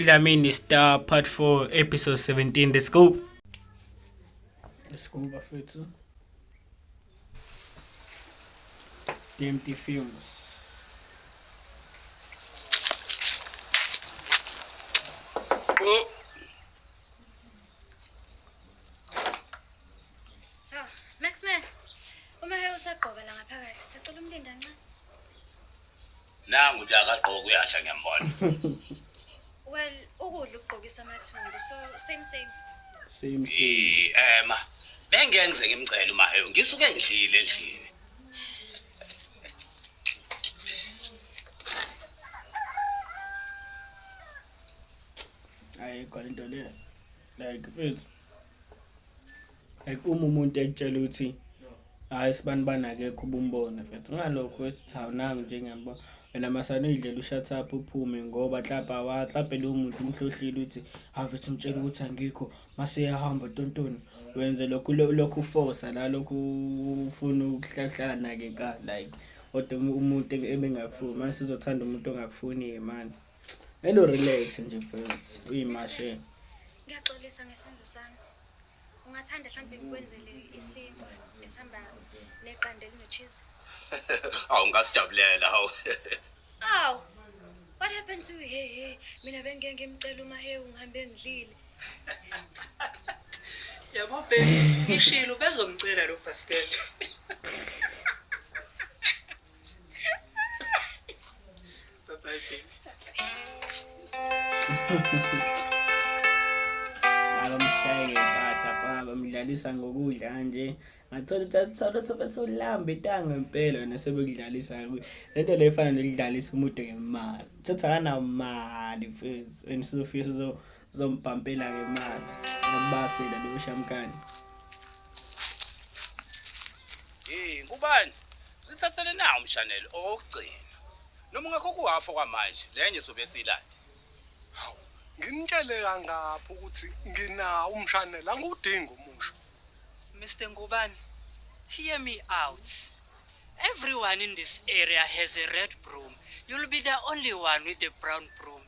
Udlamini Star Part 4 Episode 17 Let's go Let's go bafethu DMT Films Oh. Maxman, uma hewusagqoka la ngaphakathi, sicela umlindi ancane. nangu nje akagqoki uyasha ngiyambona well ukudla ukugqokisa amathumbu so same same same same ema bengeke ngize ngimcele umaheyo ngisuke ngidlile endlini ayikho into le like mfethu like uma umuntu ekutshela ukuthi hayi sibani banakekho ubumbone mfethu ngalokho ethi cha nangu nje ngiyambona wena masana uyidlela ushathapha uphume ngoba hlapa wahlaphe lowo muntu umhlohlile ukuthi haveth umtshela ukuthi angikho mase yahamba tontoni wenze lokhu lokhu ufosa la lokhu ufuna ukuhlahlala nake ka like kodwa umuntu ebengakufuni mase uzothanda umuntu ongakufuni manje elo relax nje mfethu uyimashe ngiyaxolisa ngesenzo sami Ungathanda hlampe ngikwenzele isinkwa esihamba neqanda elinocheese? Awu ngasijabulela hawu. Aw. What happened to he he? Mina bengike ngimcela uma he ungihambe ngidlile. Yabo baby, ngishilo bezomcela lo bastard. abamshayeke kahle afana bamdlalisa ngokudla kanje ngathola ukuthi athola ukuthi bethi ulamba itanga impela wena sebekudlalisa kakhulu le nto leyo efana nokudlalisa umuntu ngemali thatha kanamali mfethu and sizofika sizo Zombhampela ke manje. Ngibasela leyo shamkani. Hey, kubani? Sithathele na umshanelo owokugcina. Noma ungakho kuhafo kwamanje, lenye sobe silande. Hawu, ngimtshele kangaphi ukuthi nginawo umshanela angiwudingi umusho. Mr. Ngubane, hear me out. Everyone in this area has a red broom. You'll be the only one with a brown broom.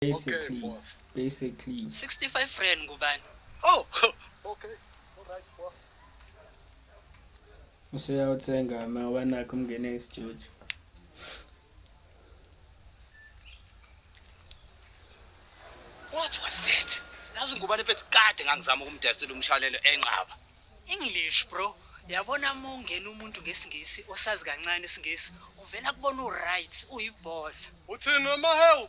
basically boss. basically 65 rand ngubani oh okay alright boss useyawuthenga ma wanakho umngene esijojo what was that yazi ngubani phethi kade ngangizama ukumdasela umshwanelo enqaba english bro yabona uma ungena umuntu ngesingisi osazi kancane isingisi uvela kubona uright uyibhoza uthini wamahewu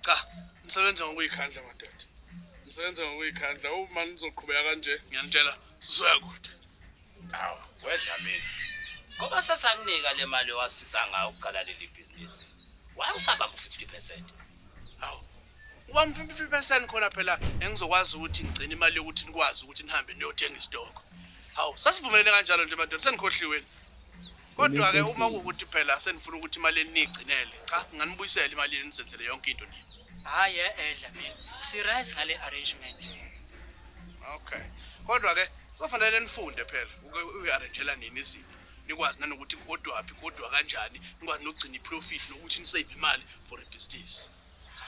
Cha, nisebenza ngokuyikhandla madoda. Nisebenza ngokuyikhandla. Uma nizoqhubeka kanje, ngiyanitshela sizoya kude. Hawu, wedla mina. Ngoba sesakunika le mali owasiza ngayo ukuqala leli bhizinisi. Why usaba ku 50%? Hawu. Ubani 50% khona phela engizokwazi ukuthi ngigcine imali yokuthi nikwazi ukuthi nihambe niyothenga isitoko. Hawu, sasivumelene kanjalo nje madoda, senikhohliweni. Kodwa ke uma kukuthi phela senifuna ukuthi imali enigcinele, cha nganibuyisela imali yenu nisenzele yonke into nini. Hayi edla mina. Sirise ngale arrangement. Okay. Kodwa ke kufanele nifunde phela uku-arrangela nini izinto. Nikwazi nanokuthi kodwaphi kodwa kanjani, nikwazi nokugcina iprofit nokuthi nisave imali for a business.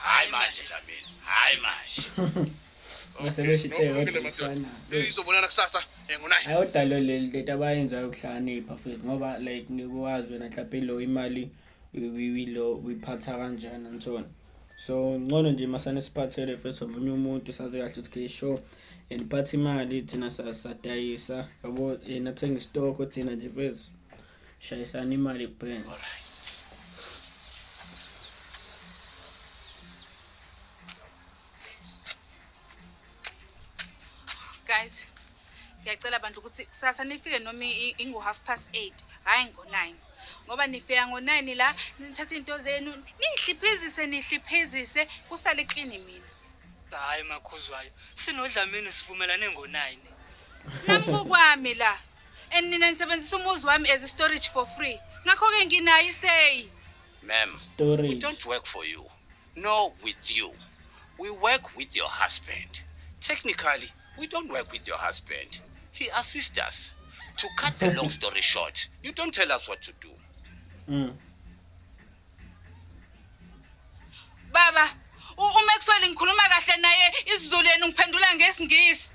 Hayi manje Dlamini, hayi manje. Ngisebeshite yodwa mfana. Izobonana kusasa engunayo. Ayodalo leli lento abayenzayo ukuhlakanipha futhi ngoba like ngikuwazi wena mhlawumbe lo imali uyilo uyiphatha kanjani ngithona. So ngcono nje masane siphathele futhi omunye umuntu sazi kahle ukuthi ke show and phatha imali thina sadayisa yabo yena thenga istock thina nje futhi Shayisani imali brain. Guys, ngiyacela abantu ukuthi kusasa nifike noma ingu half past 8, hayi ngo 9. Ngoba nifika ngo 9 la nithatha into zenu, nihliphizise nihliphizise kusale clean mina. Hayi makhuzwayo, sinodlamini sivumelane ngo 9. Nami kokwami la. and nina nisebenzisa umuzi wami as storage for free ngakho-ke nginayo iseyi ma'am we storage don't work for you nor with you we work with your husband technically we don't work with your husband he assists us to cut the long story short you don't tell us what to do Mm. baba u- umaxwell ngikhuluma kahle naye isizulu yenu ngiphendula ngesingisi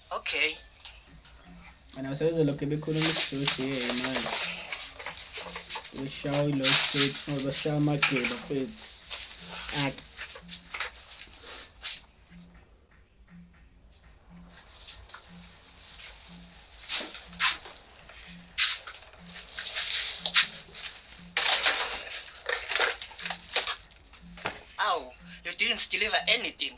Okay. Ana usebenza lokho bekhuluma isidothi yeye manje. Ushawa ilo state ngoba ushawa amageba futhi. Ak. Ow, you didn't deliver anything.